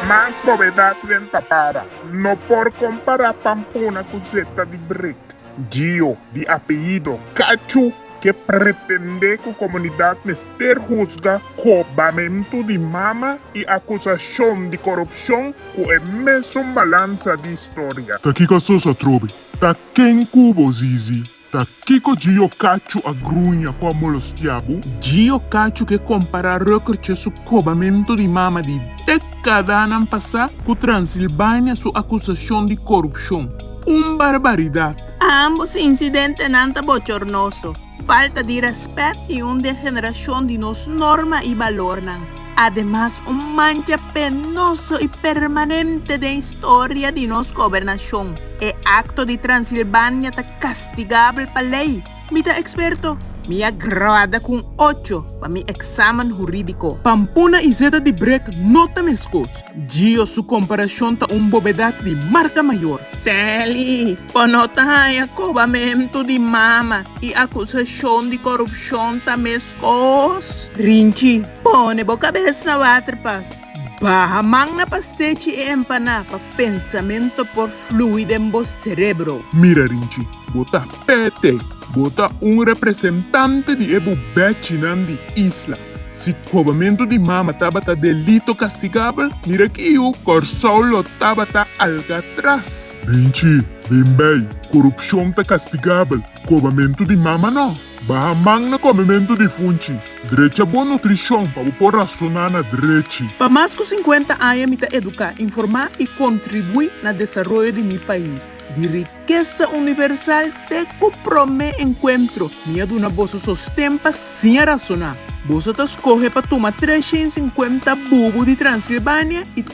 Mas bobedat wen ta para. No por compara Pampona cu Zeta di Brick. Gio, di apellido Cachu, ke pretende cu comunidad mester huzga cu bamento di mama y acusacion di corupcion cu e mesun balanza di historia. Ta kico asocia trobe? Ta ken cu bo zizi Ta kiko Gio Cacho a gruña cu a molostiá bo? Gio Cacho ke kompará Röckertje su kobamentu di mama di dekadanan pasá ku Transilbania su akusashon di korupshon. Un barbaridat! Ambos insidentenan ta bochornoso, falta di rèspèt i un degenerashon di nos norma i balornan. Ademas un mancha penoso i permanente den historia di nos gobernashon. E akto di Transilbania ta kastigabel pa lei. Mi ta eksperto? Mi a graduá ku un ocho pa mi eksamen hurídiko. Pampuna i zeta di brek no ta meskos. Gio su komparashon ta un bobedat di marka mayor. Sally, Bo no ta haña kobamentu di mama i akusashon di korupshon ta mes? Os, Rinchi, pone bo kabes na water pas baha man na pa stechi e empaná pa pensamento por flui den bo serebro. Mira Rinchi, bo ta pete, bo ta un representante di e bu bechinan di isla. Si kobamento di mama tabata delito kastigabel, mira aki yu, Kòrsou lo tabata Alkatras. Rinchi, Bin bai, korupshon ta kastigabel, kobamento di mama nò. Baha man na komementu di funchi. Drecha bon nutrishon pa bo por rasoná na drechi. Pa mas ku sinkuenta aña mi ta eduká, informá i kontribuí na desaroyo di mi pais. Di rikesa universal te ku promé enkuentro, mi a duna boso sosten pa siña rasoná. Boso ta skohe pa tuma tres shen i sinkuenta bubu di Transilbania i.